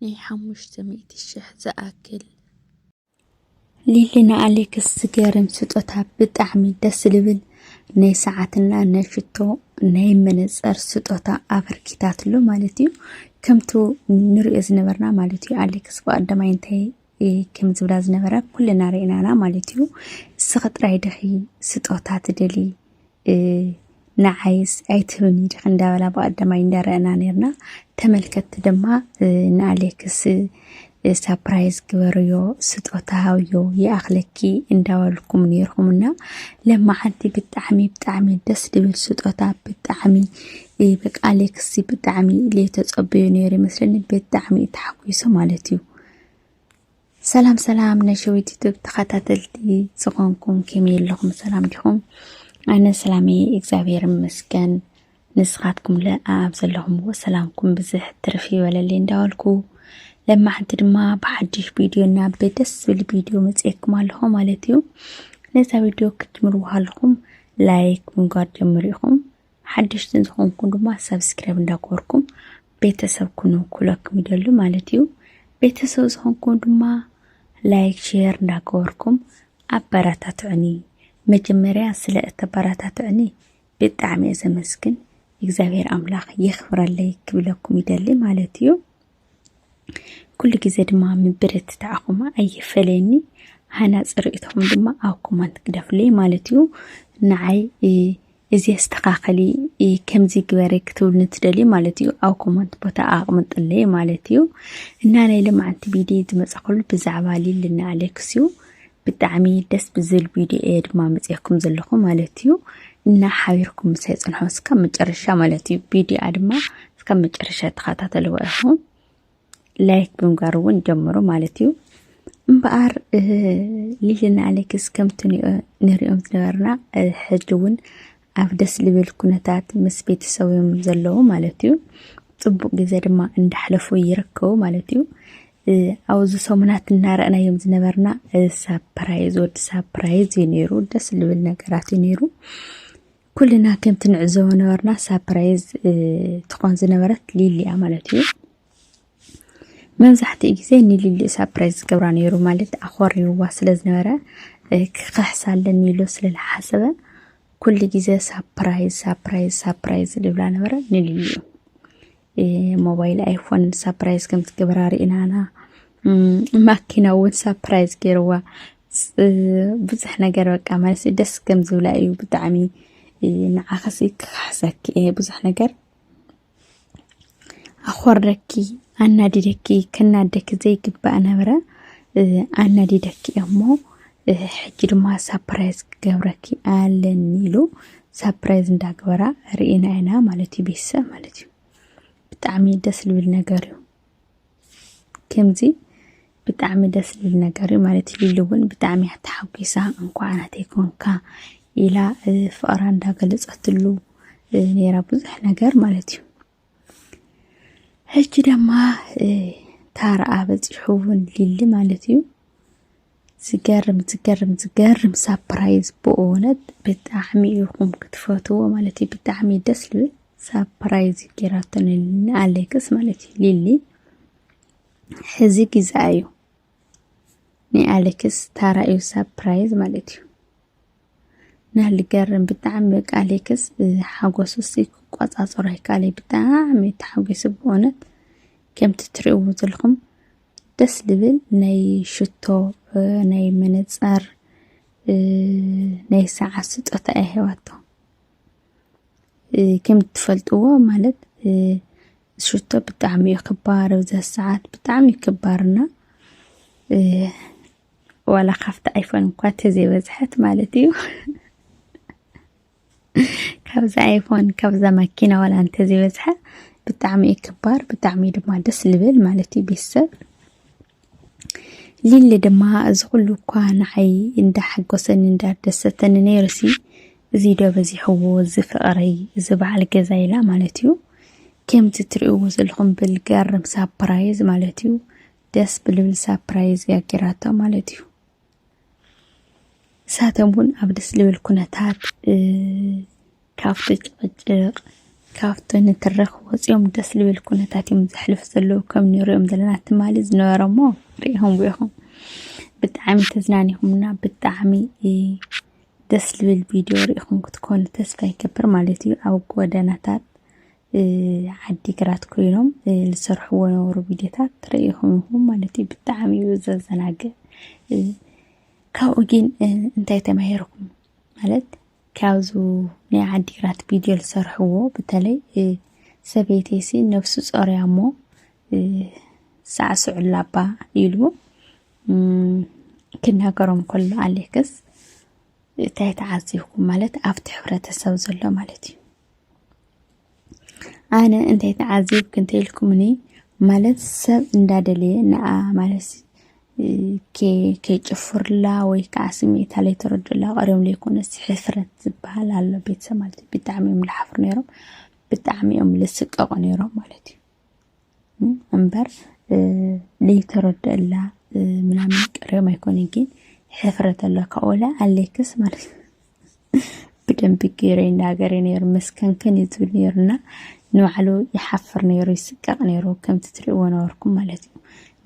ናይ ሓሙሽተ ሚእቲ ሽሕ ዝኣክል ሊሊ ንኣሌክስ ዝገርም ስጦታ ብጣዕሚ ደስ ልብል ናይ ሰዓትና ናይ ሽቶ ናይ መነፀር ስጦታ ኣበርኪታትሎ ማለት እዩ ከምቲ ንሪኦ ዝነበርና ማለት እዩ ኣሌክስ ብቀዳማይ እንታይ ከም ዝብላ ዝነበራ ኩልና ርኢናና ማለት እዩ እስኺ ጥራይ ድኺ ስጦታ ትደሊ ንዓይስ ኣይትህብኒ ድኺ እንዳበላ ብቀዳማይ እንዳረአና ነርና ተመልከትቲ ድማ ንኣሌክስ ሳፕራይዝ ግበርዮ ስጦታ ሃብዮ ይኣኽለኪ እንዳበልኩም ነይርኩምና ለማዓንቲ ብጣዕሚ ብጣዕሚ ደስ ድብል ስጦታ ብጣዕሚ በቃ ኣሌክስ ብጣዕሚ ለይተፀበዩ ነይሩ ይመስለኒ ብጣዕሚ ተሓጒሱ ማለት እዩ ሰላም ሰላም ናይ ሸዊት ዩቱብ ተኸታተልቲ ዝኾንኩም ከመይ ኣለኹም ሰላም ዲኹም ኣነ ሰላመይ እግዚኣብሔር ይመስገን ንስኻትኩም ለ ኣብ ዘለኹምዎ ሰላምኩም ብዝሕ ትርፊ ይበለለይ እንዳበልኩ ለማሕንቲ ድማ ብሓድሽ ቪድዮ እና ብደስ ዝብል ቪድዮ መፅኤኩም ኣለኹ ማለት እዩ ነዛ ቪድዮ ክትምርዎ ኣለኹም ላይክ ምንጓር ጀምሩ ኢኹም ሓደሽቲ ዝኾንኩም ድማ ሰብስክራይብ እንዳገበርኩም ቤተሰብ ኩኑ ክብለኩም ይደሉ ማለት እዩ ቤተሰብ ዝኾንኩም ድማ ላይክ ሼር እንዳገበርኩም ኣበረታትዑኒ መጀመርያ ስለ እተበረታትዑኒ ብጣዕሚ እየ ዘመስግን እግዚኣብሔር ኣምላኽ የኽብረለይ ክብለኩም ይደሊ ማለት እዩ ኩሉ ግዜ ድማ ምብርትታዕኹም ኣይፈለየኒ ሃናፂ ርእይቶኹም ድማ ኣብ ኮመንት ግደፉለይ ማለት እዩ ንዓይ እዚ ኣስተኻኸሊ ከምዚ ግበረ ክትብሉ እንትደልዩ ማለት እዩ ኣብ ኮመንት ቦታ ኣቕምጥለይ ማለት እዩ እና ናይ ልምዓንቲ ቪድዮ ዝመፀኸሉ ብዛዕባ ሊልና ኣሌክስ እዩ ብጣዕሚ ደስ ብዝብል ቪድዮ እየ ድማ መፅያኩም ዘለኹ ማለት እዩ እና ሓቢርኩም ምሳይ ፅንሖ እስካብ መጨረሻ ማለት እዩ ቪድዮኣ ድማ እስካብ መጨረሻ ተኸታተልዎ ኢኹም ላይክ ብምጋር እውን ጀምሩ ማለት እዩ እምበኣር ሊልና ኣሌክስ ከምቲ ንሪኦም ዝነበርና ሕጂ እውን ኣብ ደስ ልብል ኩነታት ምስ ቤተሰብም ዘለዉ ማለት እዩ ፅቡቅ ግዜ ድማ እንዳሕለፉ ይርከቡ ማለት እዩ ኣብዚ ሰሙናት እናረእናዮም ዝነበርና ሳፕራይዝ ወዲ ሳፕራይዝ እዩ ነይሩ ደስ ልብል ነገራት እዩ ነይሩ ኩልና ከምቲ ንዕዘቦ ነበርና ሳፕራይዝ ትኾን ዝነበረት ሊሊያ ማለት እዩ መብዛሕትኡ ግዜ ንሊሊ ሳፕራይዝ ዝገብራ ነይሩ ማለት ኣኾሪውዋ ስለ ዝነበረ ክኽሕሳ ኣለኒ ኢሉ ስለ ዝሓሰበ ኩሉ ግዜ ሳፕራይዝ ሳፕራይዝ ሳፕራይዝ ዝብላ ነበረ ንልዩ ሞባይል ኣይፎን ሳፕራይዝ ከም ትገብራ ርኢና ኢና ማኪና እውን ሳፕራይዝ ገይርዋ ብዙሕ ነገር በቃ ማለት ደስ ከም ዝብላ እዩ ብጣዕሚ ንዓኸሲ ክካሕሰኪ እየ ብዙሕ ነገር ኣኾርደኪ ኣናዲደኪ ክናደኪ ዘይግባእ ነበረ ኣናዲደኪ እሞ ሕጂ ድማ ሳፕራይዝ ክገብረኪ ኣለኒ ኢሉ ሳፕራይዝ እንዳግበራ ርኢና ኢና ማለት እዩ ቤተሰብ ማለት እዩ ብጣዕሚ ደስ ዝብል ነገር እዩ ከምዚ ብጣዕሚ ደስ ዝብል ነገር እዩ ማለት ሊሊ እውን ብጣዕሚ እያ ተሓጒሳ እንኳዕ ናተይ ኮንካ ኢላ ፍቕራ እንዳገለፀትሉ ነይራ ብዙሕ ነገር ማለት እዩ ሕጂ ድማ ታረኣ በፂሑ እውን ሊሊ ማለት እዩ ዝገርም ዝገርም ዝገርም ሳፕራይዝ ብእውነት ብጣዕሚ ኢኹም ክትፈትዎ ማለት እዩ ብጣዕሚ ደስ ልብል ሳፕራይዝ እዩ ጌራቶ ንኣሌክስ ማለት እዩ ሊሊ ሕዚ ግዛ እዩ ናይ ኣሌክስ ታራ እዩ ሳፕራይዝ ማለት እዩ ናይ ልገርም ብጣዕሚ በቃ ሌክስ ሓጎሱ ሲ ክቆፃፀሮ ኣይካለ ብጣዕሚ ተሓጒሱ ብእውነት ከምቲ ትሪእዎ ዘለኹም ደስ ልብል ናይ ሽቶ ናይ መነፀር ናይ ሰዓት ስጦታ እየ ሂባቶ ከም እትፈልጥዎ ማለት ሽቶ ብጣዕሚ እዩ ክባር ኣብዛ ሰዓት ብጣዕሚ እዩ ክባርና ዋላ ካብቲ ኣይፎን እኳ ተዘይበዝሐት ማለት እዩ ካብዚ ኣይፎን ካብዛ ማኪና ዋላ እንተዘይበዝሐ ብጣዕሚ እዩ ክባር ብጣዕሚ ድማ ደስ ልብል ማለት እዩ ቤተሰብ ሊሊ ድማ እዚ ኩሉ እኳ ንዓይ እንዳሓጎሰኒ እንዳደሰተኒ ነይሩሲ እዚ ዶ በዚሕዎ እዚ ፍቕረይ እዚ በዓል ገዛ ኢላ ማለት እዩ ከምቲ ትርእይዎ ዘለኹም ብልገርም ሳፕራይዝ ማለት እዩ ደስ ብልብል ሳፕራይዝ እያ ጌራቶ ማለት እዩ ንሳቶም እውን ኣብ ደስ ልብል ኩነታት ካብቲ ጭቕጭቕ ካብቲ ንትረኽ ወፂኦም ደስ ልብል ኩነታት እዮም ዘሕልፉ ዘለዉ ከም ንሪኦም ዘለና ትማሊ ዝነበረ እሞ ሪኢኹም ኢኹም ብጣዕሚ ተዝናኒኹምና ብጣዕሚ ደስ ልብል ቪድዮ ሪኢኹም ክትኮኑ ተስፋ ይገብር ማለት እዩ ኣብ ጎደናታት ዓዲግራት ኮይኖም ዝሰርሕዎ ነበሩ ቪድዮታት ርእኹም ኢኹም ማለት እዩ ብጣዕሚ እዩ ዘዘናግዕ ካብኡ ግን እንታይ ተማሂርኩም ማለት ካብዚ ናይ ዓዲግራት ቪድዮ ዝሰርሕዎ በተለይ ሰበይተይሲ ነብሱ ጾርያ እሞ ሳዕስዑላ ኣባ ኢሉ ክናገሮም ከሎ ኣሌክስ እንታይ ተዓዚብኩም ማለት ኣብቲ ሕብረተሰብ ዘሎ ማለት እዩ ኣነ እንታይ ተዓዘብኩ እንተልኩምኒ ማለት ሰብ እንዳደለየ ንኣ ማለት ከይጭፍርላ ወይ ከዓ ስምዒታ ለይተረድኡላ ቀሪቦም ለይኮነስ ሕፍረት ዝበሃል ኣሎ ቤተሰብ ማለት እዩ ብጣዕሚ እዮም ልሓፍሩ ነይሮም ብጣዕሚ እዮም ልስቀቑ ነይሮም ማለት እዩ እምበር ለይተረድአላ ምናምን ቅሬም ኣይኮነ ግን ሕፍረት ኣሎ ካኦላ ኣሌክስ ማለት ብደንብ ገይረ ይናገር ነይሩ መስከንከን እዩ ዝብል ነይሩና ንባዕሉ ይሓፍር ነይሩ ይስቀቕ ነይሩ ከምቲ ትሪእዎ ነበርኩም ማለት እዩ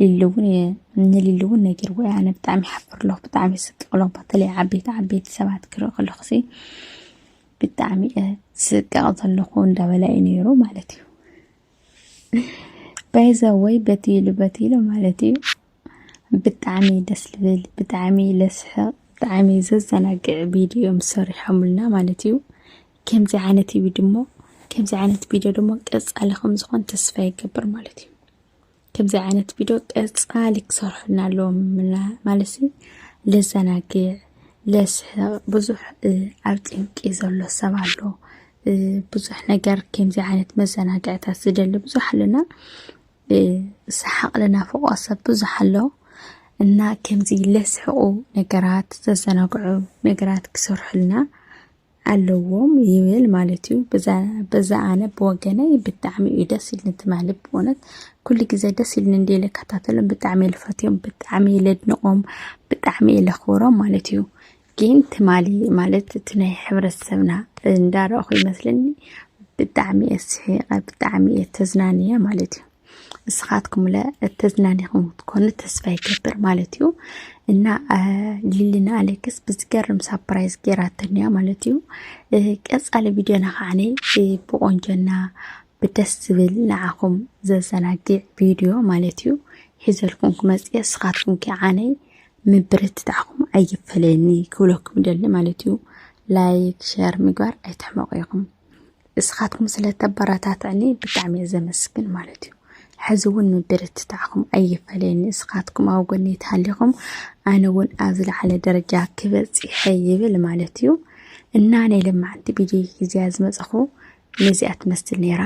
ሊሉ እውን ንሊሉ እውን ነጊርዎ እያ ኣነ ብጣዕሚ ይሓፍር ኣለኹ ብጣዕሚ ይስቅቕ ኣለኹ በተለይ ዓበይቲ ዓበይቲ ሰባት ክርኢ ከለኹ ሲ ብጣዕሚ እየ ዝስቀቕ ዘለኹ እንዳበላ እዩ ነይሩ ማለት እዩ ባይዘወይ በትይሉ በትይሉ ማለት እዩ ብጣዕሚ ደስ ልብል ብጣዕሚ ለስሕቕ ብጣዕሚ ዘዘናግዕ ቪድዮ እዮም ሰሪሖምልና ማለት እዩ ከምዚ ዓይነት እዩ ድሞ ከምዚ ዓይነት ቪድዮ ድሞ ቀፃሊ ከም ዝኾን ተስፋ ይገብር ማለት እዩ ከምዚ ዓይነት ቪድዮ ቀፃሊ ክሰርሑልና ኣለዎም ማለት ለዘናግዕ ለስሕቕ ብዙሕ ኣብ ጭንቂ ዘሎ ሰብ ኣሎ ብዙሕ ነገር ከምዚ ዓይነት መዘናግዕታት ዝደሊ ብዙሕ ኣለና ሰሓቕ ልናፍቆ ሰብ ብዙሕ ኣሎ እና ከምዚ ለስሕቑ ነገራት ዘዘናግዑ ነገራት ክሰርሑልና ኣለዎም ይብል ማለት እዩ። በዛ ኣነ ብወገነይ ብጣዕሚ እዩ ደስ ኢልኒ ትማሊ ብእውነት ኩሉ ግዜ ደስ ኢልኒ እንዲ ልከታተሎም ብጣዕሚ እየ ልፈትዮም ብጣዕሚ እየ ለድንቖም ብጣዕሚ እየ ለኽብሮም ማለት እዩ። ግን ትማሊ ማለት እቲ ናይ ሕብረተሰብና እንዳረእኹ ይመስለኒ ብጣዕሚ እየ ስሒቐ ብጣዕሚ እየ ተዝናንየ ማለት እዩ። ንስኻትኩምለ ተዝናኒኹም ክትኮኑ ተስፋ ይገብር ማለት እዩ እና ሊሊና ኣሌክስ ብዝገርም ሳፕራይዝ ገይራተን እያ ማለት እዩ ቀፃሊ ቪድዮና ከዓነ ብቆንጆና ብደስ ዝብል ንዓኹም ዘዘናግዕ ቪድዮ ማለት እዩ ሒዘልኩም ክመፅእ ንስኻትኩም ከዓነ ምብርትታዕኩም ኣይፈለየኒ ክብለኩም ደሊ ማለት እዩ ላይክ ሸር ምግባር ኣይትሕመቑ ኢኹም እስኻትኩም ስለ ተበረታትዕኒ ብጣዕሚ እየ ዘመስግን ማለት እዩ ሕዚ እውን ምብርትታዕኹም ኣይፈለየኒ እስኻትኩም ኣብ ጎኒ ተሃሊኹም ኣነ እውን ኣብ ዝለዓለ ደረጃ ክበፅሐ ይብል ማለት እዩ እና ናይ ለማዕንቲ ቪድዮ ግዜያ ዝመፀኹ ነዚኣ ትመስል ነይራ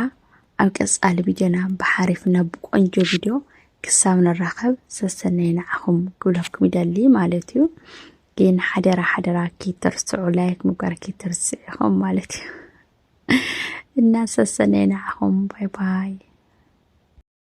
ኣብ ቀፃሊ ቪድዮና ብሓሪፍ እና ብቆንጆ ቪድዮ ክሳብ ንራኸብ ሰሰናይ ንዓኹም ክብለኩም ይደሊ ማለት እዩ ግን ሓደራ ሓደራ ኪትርስዑ ላይክ ምግባር ኪትርስዕ ኢኹም ማለት እዩ እና ሰሰነይ ንዓኹም ባይ ባይ